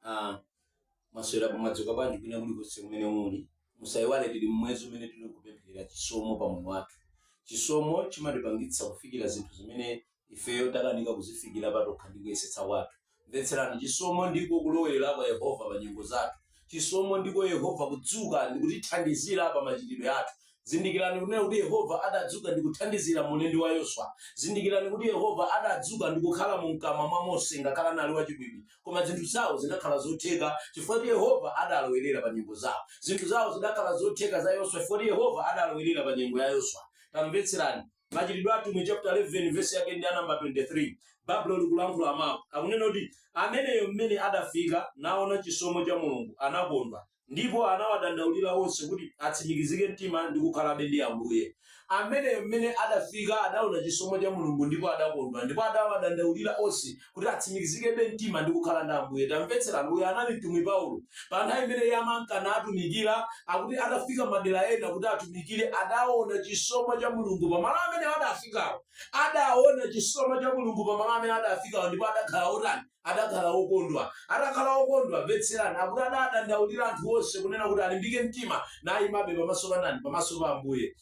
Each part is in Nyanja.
Ah, mwaswera pamwadzuka bwanji kwina kuli konse kumene muli musayiwale tili mmwezi umene tili kupempherera chisomo pa moyo wathu chisomo chimatipangitsa kufikira zinthu zimene ifeyo takanika kuzifikira patokha ndi kuyesetsa kwathu mvetserani chisomo ndiko kulowerera kwa yehova pa nyengo zathu Chisomo ndiko Yehova kudzuka ndi kutithandizira pa machitidwe athu. Zindikirani kunena kuti Yehova adadzuka ndi kuthandizira mu ulendi wa Yoswa. Zindikirani kuti Yehova adadzuka ndi kukhala mu mkamwa mwa Mose ngakhale anali wachibwibwi. Koma zinthu zawo zidakhala zotheka chifukwa kuti Yehova adalowerera pa nyengo zawo. Zinthu zawo zidakhala zotheka za Yoswa chifukwa kuti Yehova adalowerera pa nyengo ya Yoswa. Tamvetserani. Machitidwe a Atumwi chapter 11 verse yake ndi ya namba 23 Baibulo likulankhula mawu akunena kuti ameneyo mmene adafika naona chisomo cha Mulungu anakondwa ndipo anawadandaulira onse kuti atsimikizike mtima ndi kukhalabe ndi Ambuye. Ameneyo mmene adafika adaona chisomo cha Mulungu ndipo adakondwa ndipo anawadandaulira onse kuti atsimikizikebe mtima ndi kukhala ndi Ambuye. Tamvetserani, uyu anali mtumwi Paulo. Pa nthawi imene iye amanka natumikira, akuti atafika madera ena kuti atumikire, adaona chisomo cha Mulungu pa malo amene adafikawo. Adaona chisomo cha Mulungu pa malo amene adafikawo ndipo adakhala otani? Adakhala okondwa. Atakhala okondwa, mvetserani, akuti adadandaulira anthu onse kunena kuti alimbike mtima naimabe pamaso pa ndani? Pamaso pa Ambuye.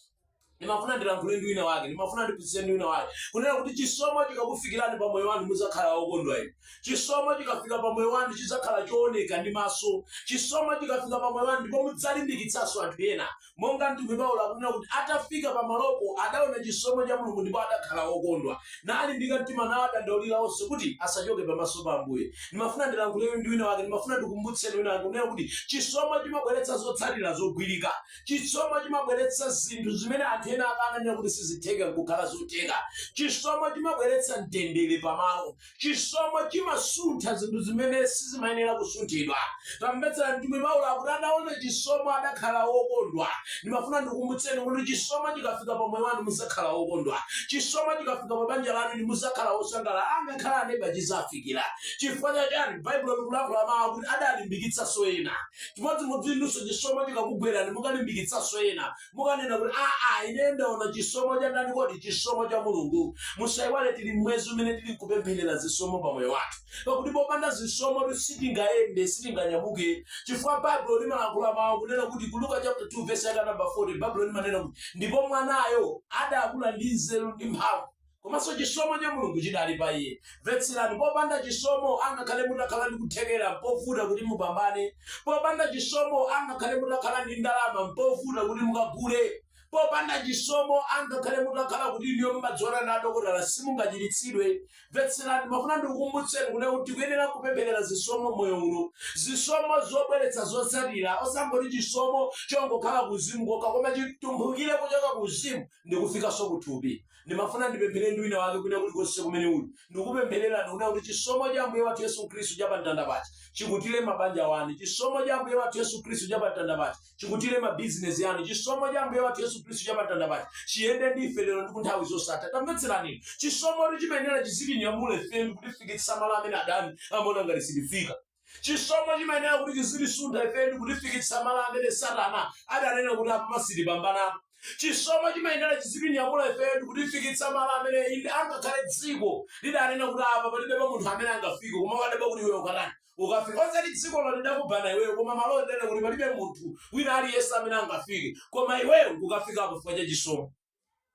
ndimafuna ndilankhule ndi wina wake ndimafuna ndiphunzitse ndi wina wake kunena kuti chisomo chikakufikirani pa moyo wanu mudzakhala wokondwa inu chisomo chikafika pa moyo wanu chidzakhala chooneka ndi maso chisomo chikafika pa moyo wanu ndipo mudzalimbikitsanso anthu ena monga mtumwi paulo akunena kuti atafika pa malopo adaona chisomo cha mulungu ndipo adakhala wokondwa nalimbika mtima nawadandaulira onse kuti asachoke pamaso pa ambuye ndimafuna ndilankhule ndi wina wake ndimafuna ndikumbutse wina wake kunena kuti chisomo chimabweretsa zotsatira zogwirika Chisomo chimabweretsa zinthu zimene anthu ena akananena kuti sizitheka n'kukhala zotheka. Chisomo chimabweretsa mtendere pamalo. Chisomo chimasuntha zinthu zimene sizimayenera kusunthidwa. Tamvetsera, mtumwi Paulo akuti ataona chisomo adakhala wokondwa. Ndimafuna ndikukumbutseni kuti chisomo chikafika pa moyo wanu muzakhala wokondwa. Chisomo chikafika pa banja lanu inu muzakhala wosangalala. Angakhale aneba chizawafikira. Chifukwa cha chani? Baibulo likulankhula mawu akuti adalimbikitsanso ena. Chimodzimodzi inunso chisomo chikakugwerani mukalimbikitsanso ena. Mukanena kuti, Aa ineyo ndaona chisomo cha ndani kodi? Chisomo cha Mulungu. Musaiwale tili m'mwezi umene tili kupempherera zisomo pa moyo wathu. Pakuti popanda zisomotu sitingayende, sitinganyamuke. Chifukwa Baibulo limalankhula mau kunena kuti ku Luka chapter 2 verse yake ya number 40 Baibulo limanena kuti ndipo mwanayo adakula ndi nzeru ndi mphamvu. komanso chisomo cha mulungu chidali pa iye mvetserani popanda chisomo angakhale mutakhala ndi kuthekera mpovuta kuti mupambane popanda chisomo angakhale mutakhala ndi ndalama mpovuta kuti mukagule popanda chisomo angakhale mutakhala kuti inuyo mumadziwana ndi adokotala simungachiritsidwe mvetserani mafuna ndikukumbutseni kunena kuti tikuyenera kupempherera zisomo moyo uno zisomo zobweretsa zotsatira osangoti chisomo chongokhala kuzimu kokha koma chitumphukire kuchoka kuzimu ndi kufikanso kuthupi Ndimafuna ndipemphere ndi wina wake kwina kulikonse kumene uli. Ndikukupemphererani kunena kuti chisomo cha Ambuye wathu Yesu Khristu cha pa mtanda paja chikutire mabanja anu. Chisomo cha Ambuye wathu Yesu Khristu cha pa mtanda paja chikutire ma business anu. Chisomo cha Ambuye wathu Yesu Khristu cha pa mtanda paja chiyende ndi ife lero ndi ku nthawi zosatha. Tamvetserani inu. Chisomotu chimayenera chizitinyamule ife ndi kutifikitsa malo amene adani amaona ngati sitifika. chisomo chimayenera kuti chizitisuntha ife ndi kutifikitsa malo amene satana adanena kuti apa sitipambana chisomo chimayenera chizitinyamula ife ndi kutifikitsa malo amene inde angakhale dziko lidanena kuti apa palibe pa munthu amene angafike koma ukadabwa kuti iwe ukatani ukafika osati dzikolo lidakubanda iweyo koma malo onena kuti palibe munthu wina aliyense amene angafike koma iweyo ukafikapo chifukwa cha chisomo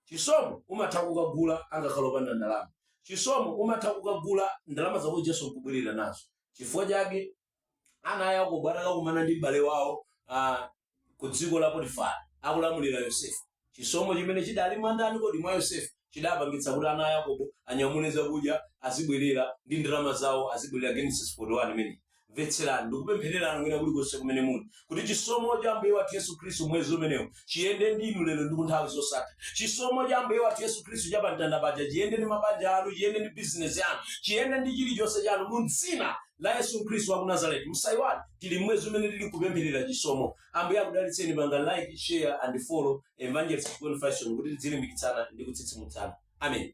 chisomo umatha kukagula angakhale opanda ndalama chisomo umatha kukagula ndalama zako jesu nkubwerera nazo chifukwa chake ana a yakobo atakakumana ndi m'bale wawo ah, ku dziko la potifari akulamulira yosefe chisomo chimene chidali mwandani kodi mwa yosefe chidapangitsa kuti ana a yakobo anyamule zakudya azibwerera ndi ndalama zawo azibwerera genesis 41 imeneyo Mvetserani, ndikupemphererani kwina kulikonse kumene muli, kuti chisomo cha Ambuye wathu Yesu Khristu mwezi umenewu chiyende ndi inu lero ndi ku nthawi zosatha. Chisomo cha Ambuye wathu Yesu Khristu cha pamtanda paja chiyende ndi mabanja anu, chiyende ndi bizinesi yanu, chiyende ndi chilichonse chanu mu dzina la Yesu Khristu wa ku Nazareti. Musaiwale, tili mmwezi umene tili kupempherera chisomo. Ambuye akudalitseni pangani like, share and follow Evangelist Gwen Fashion kuti tidzilimbikitsana ndi kutsitsimutsana. Amen.